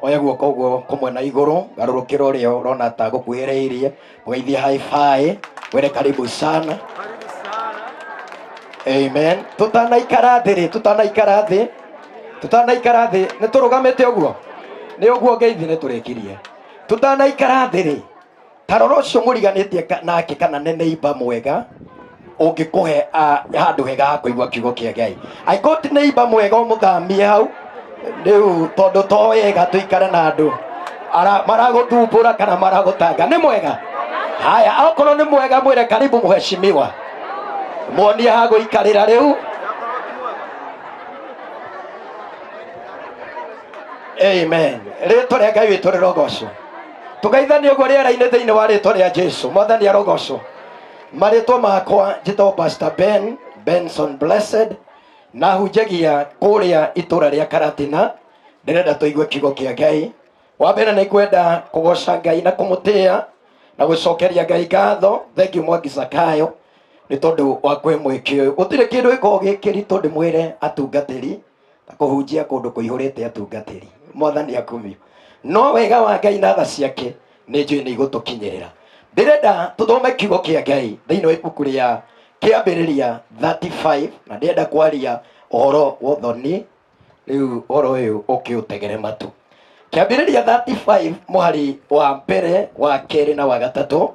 oya guoko ũguo kũmwe na igũrũ garũrũkĩra ũrĩa ũrona ta gũkuhĩrĩirie mũgeithie haibaĩ were karibu sana amen tũtanaikara thĩ rĩ tũtanaikara thĩ tũtanaikara thĩ nĩ tũrũgamĩte ũguo nĩ ũguo ngeithi nĩ tũrĩkirie tũtanaikara thĩ rĩ tarora ũcio mũriganĩtie ka- nake kana nĩ neiba mwega ũngĩkũhe ah, handũ hega ha kũigua kiugo kĩa ngai angĩkorwo ti neiba mwega ũmũthamie hau rĩu tondũ to wega tũikare na andũ ara- maragũthumbũra kana maragũtanga nĩ mwega haya akorwo nĩ mwega mwĩre karibu mũheshimiwa muonie ha gũikarĩra rĩu amen rĩtwa rĩa ngai witũ rĩrogocwo tũgeithanie ũguo rĩera-inĩ thĩinĩ wa rĩtwa rĩa jesu mwathani arogocwo marĩtwa makwa njĩtagwo pastor ben benson blessed na hunjagia kũrĩa itũra rĩa karatina ndĩrenda tũigue kiugo kĩa ngai wa mbere nĩ kwenda kũgoca ngai na kũmũtĩa na gũcokeria ngai ngatho thengiũ mwangi zakayo nĩ tondũ wa kwĩ mwĩkĩ ũyũ gũtirĩ kĩndũ gĩkoragwo gĩkĩritũ ndĩmwĩre atungatĩri ta kũhunjia kũndũ kũihũrĩte atungatĩri mwathani akumio no wega wa ngai na tha ciake nĩ njũĩ nĩ igũtũkinyĩrĩra ndĩrenda tũthome kiugo kĩa ngai thĩinĩ wa ibuku rĩa kĩambĩrĩria 35 na ndĩrenda kwaria ũhoro wa ũthoni rĩu ũhoro ũyũ ũkĩũtegere matũ kĩambĩrĩria 35 mũhari wa mbere wa kerĩ na wa gatatũ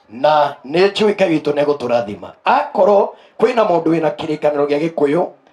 na nĩ njũĩ ngai witũ nĩ egũtũrathima akorwo kwĩna mũndũ wĩna kĩrĩkanĩro gĩa gĩkũyũ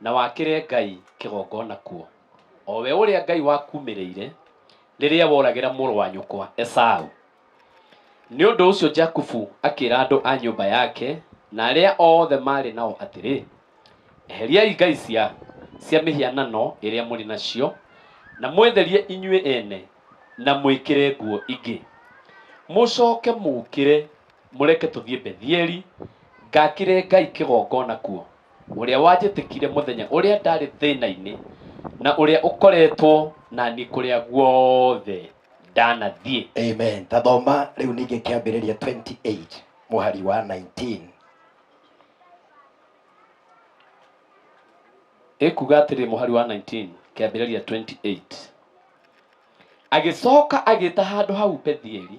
na wakĩre Ngai kĩgongona kuo, o we ũrĩa Ngai wakuumĩrĩire rĩrĩa woragĩra mũrũ wa nyũkwa Esau. Nĩ ũndũ ũcio Jakubu akĩra andũ a nyũmba yake na arĩa othe maarĩ nao atĩrĩ, Eheriai ngai cia cia mĩhianano ĩrĩa mũrĩ nacio, na mwĩtherie inyuĩ ene, na mwĩkĩre nguo ingĩ. Mũcooke mũũkĩre mũreke tũthiĩ Bethieli, ngaakĩre Ngai kĩgongona kuo. ũrĩa wanjĩtĩkire mũthenya ũrĩa ndarĩ thĩna-inĩ, na ũrĩa ũkoretwo na niĩ kũrĩa guothe ndanathiĩ. Amen. Ta thoma rĩu ningĩ kĩambĩrĩria 28 mũhari wa 19. Ĩkuga atĩrĩ mũhari wa 19 kĩambĩrĩria 28. Agĩcoka agĩĩta handũ hau Bethieli,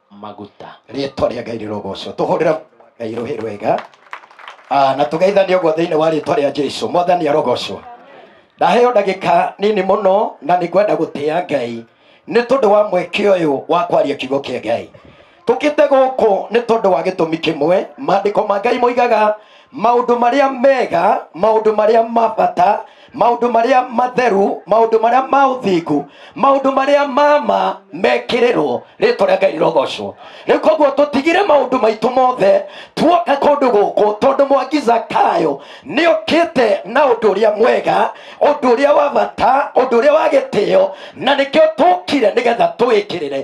maguta rĩtwa rĩa ngai rĩrogocwo tũhũrĩra ngai rũhĩ rwega Ah, na tũgeithane ũguo thĩinĩ wa rĩtwa rĩa jesu mwathani arogocwo ndaheo ndagĩka nini mũno na nĩ ngwenda gũtĩa ngai nĩ tondũ wa mweke ũyũ wa kwaria kiugo kĩa ngai tũkĩte gũkũ nĩ tondũ wa gĩtũmi kĩmwe maandĩko ma ngai moigaga maũndũ marĩa mega maũndũ marĩa mabata maũndũ marĩa matheru maũndũ marĩa ma ũthingu maũndũ marĩa mama mekĩrĩrwo rĩtwa rĩa ngai rogocwo rĩu koguo tũtigire maũndũ maitũ mothe tuoka kũndũ gũkũ tondũ mwangi zakayo nĩ ũkĩte na ũndũ ũrĩa mwega ũndũ ũrĩa wa bata ũndũ ũrĩa wa gĩtĩo na nĩkĩo tũkire nĩgetha tũwĩkĩrĩre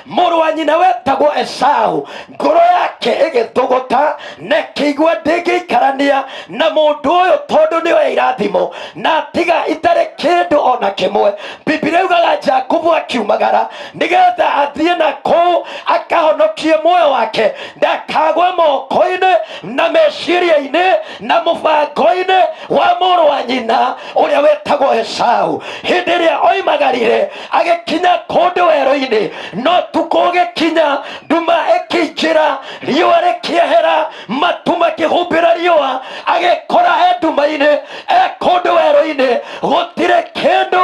mũrũ wa nyina wetagwo esaũ ngoro yake ĩgĩtũgũta na ĩkĩigua ndĩngĩikarania na mũndũ ũyũ tondũ nĩoya irathimo na atiga itarĩ kĩndũ o na kĩmwe bibilia yugaga jakubu akiumagara nĩgetha athiĩ na kũu akahonokie muoyo wake ndakagwe moko-inĩ na meciria-inĩ na mũbango-inĩ wa mũrũ wa nyina ũrĩa wetagwo esaũ hĩndĩ ĩrĩa oimagarire agĩkinya kũndũ werũ-inĩ no tukũ ũgĩkinya nduma ĩkĩingĩra riũa rĩkĩehera matu makĩhumbĩra riũa agĩkora e nduma-inĩ e kũndũ werũ-inĩ gũtirĩ kĩndũ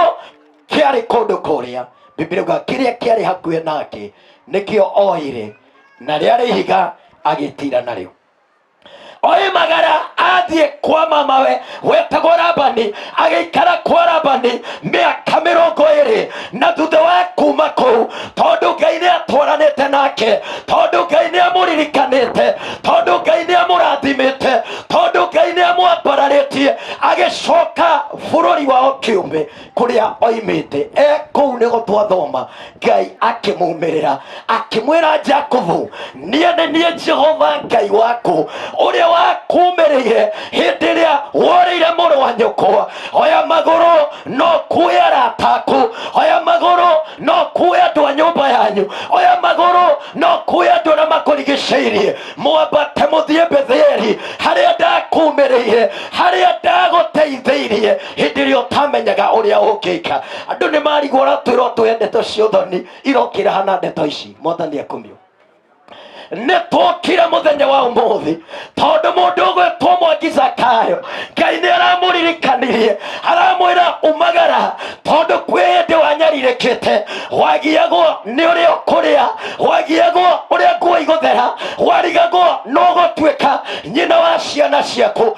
kĩarĩ kũndũ kũrĩa biblia uga kĩrĩa kĩarĩ hakuhĩ nake nĩkĩo oire na rĩarĩ ihiga agĩtira narĩo oimagara athiĩ kwa mamawe wetagwo rabani agĩikara kwa rabani mĩaka mĩrongo ĩrĩ na thutha wa kuma kũu tondũ ngai nĩ atwaranĩte nake tondũ ngai nĩ amũririkanĩte tondũ ngai nĩ amũrathimĩte tondũ ngai nĩ amwambararĩtie agĩcoka bũrũri wao kĩũmbe kuria oimite e kuu nigo twathoma ngai akimumirira akimwira jakobu nie ni nie jehova ngai waku uria wakumirire hindi iria worire muru wa nyoko oya maguru no kuya arata aku oya maguru no kuya andu a nyumba yanyu oya maguru no kuya andu aria makurigiceirie mwambate muthie betheli haria ndakumirire haria ndaguteitheirie hĩndĩ ĩrĩa ũtamenyaga ũrĩa ũngĩka andũ nĩ marigwo ratwĩrwo tũhe ndeto cia ũthoni irokĩra hana ndeto ici mwathani akumio nĩ twokire mũthenya wa ũmũthĩ tondũ mũndũ ũgwĩtwo mwangi zakayo ngai nĩ aramũririkanirie aramwĩra umagara tondũ kwĩ hĩndĩ wanyarirĩkĩte wagiagwo nĩ ũrĩa ũkũrĩa wagiagwo ũrĩa nguo igũthera warigagwo nũgũtuĩka nyina wa ciana ciaku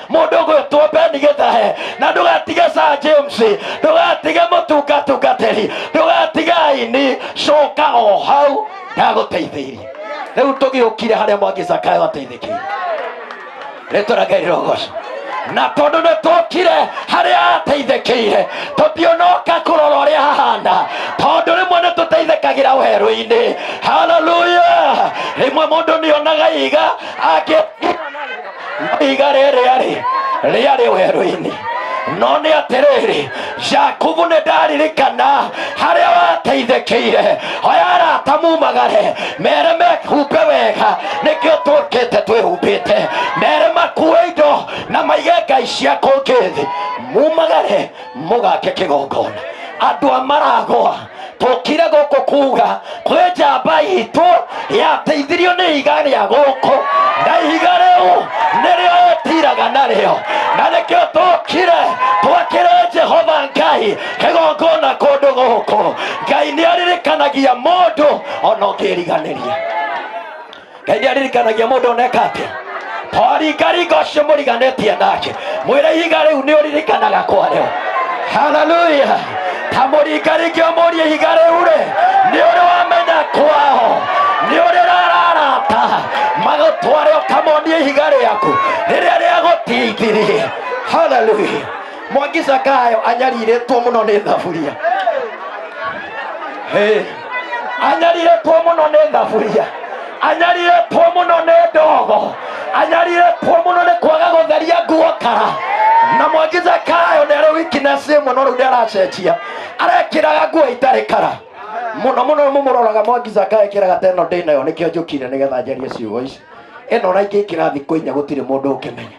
mundu gwitwo beni gitahe na ndugatige sa james ndugatige mutungatungatiri ndugatige aini coka o hau ndaguteithirie riu tugiukire haria mwangi zakayo ateithikire rĩtũra ngai rĩrogoca na tondũ nĩ tũkire harĩa ateithĩkĩire tũtionoka kũrora ũrĩa hahana tondũ rĩmwe nĩ tũteithĩkagĩra werũ-inĩ haleluya rĩmwe mũndũ nĩonaga iga angĩ iga rĩrĩa rĩ rĩarĩ werũ-inĩ no nĩ atĩrĩrĩ jakubu nĩ ndaririkana harĩa wateithĩkĩire oya arata mumagare mere mehumbe wega nĩkĩo tũkĩte twĩhumbĩte mere makue indo na maige ngai cia kũngĩ thĩ mumagare mũgake kĩgongona andũ a maragwa tũkire gũkũ kuga kwĩ njamba itũ yateithirio nĩ ihiga rĩa gũkũ na ihiga rĩu nĩrĩo ũtiraga narĩo na nĩkĩo tũkire twakĩre jehova ngai kĩgongona kũndũ gũkũ ngai nĩ aririkanagia mũndũ ona ũngĩriganĩria ngai nĩ aririkanagia mũndũ oneka atĩa oringaringa ũcio mũriganĩtie nake mwĩre ihiga rĩu nĩ ũririkanaga kwarĩo haleluya ta mũringaringi ũmũrie ihiga rĩu rĩ nĩ ũrĩ wamenya kwao nĩ ũrĩ rararata magũtware ũkamonie ihiga rĩaku rĩrĩa rĩagũtingirie haleluya mwangi cakayo anyarirĩtwo mũno nĩ thaburia Hey. anyarirĩtwo mũno nĩ thaburia anyarirĩtwo mũno nĩ ndogo anyarirĩtwo mũno nĩ kwaga gũtheria nguo kara na mwangi cakayo nĩ arĩ wikinesi ĩmwe no rĩu nĩ aracenjia arekĩraga nguo itarĩ kara mũno mũno mũmũroraga mwangi cakayo ekĩraga teno ndĩ nayo nĩkĩo njũkire nĩgetha njarie ciugo ici ĩno na ingĩ ikĩrathi kũinya gũtirĩ mũndũ ũkĩmenya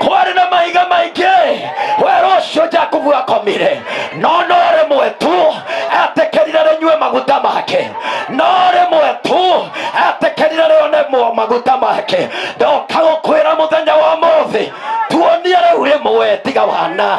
kwarĩ na mahiga maingĩ werũ ũcio jakubu akomire no no rĩmwe tu etĩkĩrire rĩnyue maguta make no rĩmwe tu etĩkĩrire rĩone mo- maguta make ndoka gũkwĩra mũthenya wa mũthĩ tuonie rĩu rĩmwe tiga wana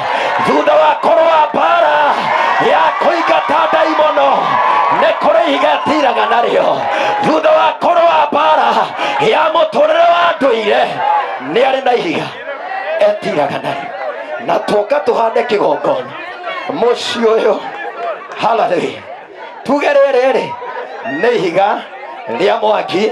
thutha wa kũrũa mbara ya kũingata ndaimono nĩ kũrĩ ihiga tiraga narĩo thutha wa kũrũa mbara ya mũtũrĩre wa ndũire nĩ arĩ na ihiga etiraga narĩo na tũka tũhande kĩgongona mũciĩ ũyũ haleluya tuge rĩrĩ rĩ nĩ ihiga rĩa mwaki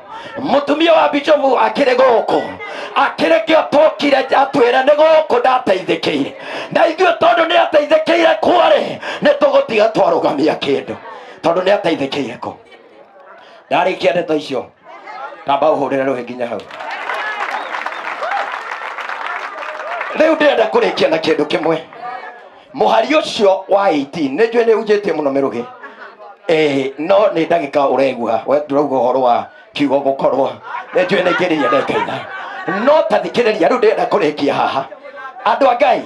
mũtumia wa bicobu akĩrĩ gũkũ akĩrĩ kĩo tokire atwĩra nĩ gũkũ ndateithĩkĩire na ithuĩ tondũ nĩ ateithĩkĩire kwarĩ nĩ tũgũtiga twarũgamia kĩndũ tondũ nĩ ateithĩkĩire kũ ndarĩkia ndeto icio tamba ũhũrĩre rũhĩ nginya hau rĩu ndĩrenda kũrĩkia na kĩndũ kĩmwe mũhari ũcio wa 18 nĩ njũĩ nĩ unjĩtie mũno mĩrũgĩ Eh, no nĩ ndagĩka ũregua we ndũrauga ũhoro wa kiugo gũkorwo nĩ njũĩ nĩ ngĩrĩria ndekaina no ta thikĩrĩria rĩu ndĩrenda kũrĩkia haha andũ a ngai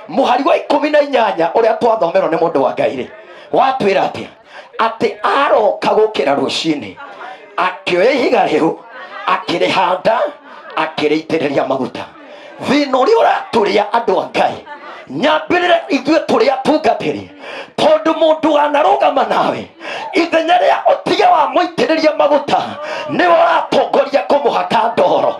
mũhari wa ikũmi na inyanya ũrĩa twathomerwo nĩ mũndũ wa ngai rĩ watwĩra atĩa atĩ aroka gũkĩra rũcinĩ akĩoya ihiga rĩu akĩrĩhanda akĩrĩitĩrĩria maguta thĩna ũrĩa ũratũrĩa andũ a ngai nyambĩrĩra ithuĩ tũrĩ atungatĩri tondũ mũndũ wanarũgama nawe ithenya rĩa ũtige wa mũitĩrĩria maguta nĩwe ũratongoria kũmũhaka ndoro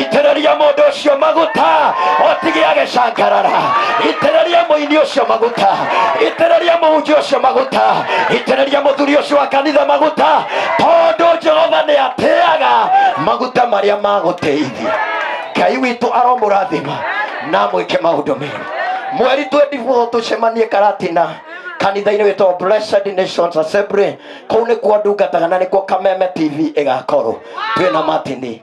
itĩrĩria mũndũ ũcio maguta otige agĩcangarara itĩrĩria mũini ũcio maguta itĩrĩria mũhunjia ũcio maguta itĩrĩria mũthuri ũcio wa kanitha maguta tondũ jehova nĩ atĩaga maguta marĩa magũteithia ngai witũ aromũrathima na mwĩke maũndũ mega mweri twendibũo tũcemanie karatina kanitha-inĩ wĩtagwo blessed nations assembly kũu nĩkuo ndungataga na nĩkuo kameme tv ĩgakorwo twĩna matini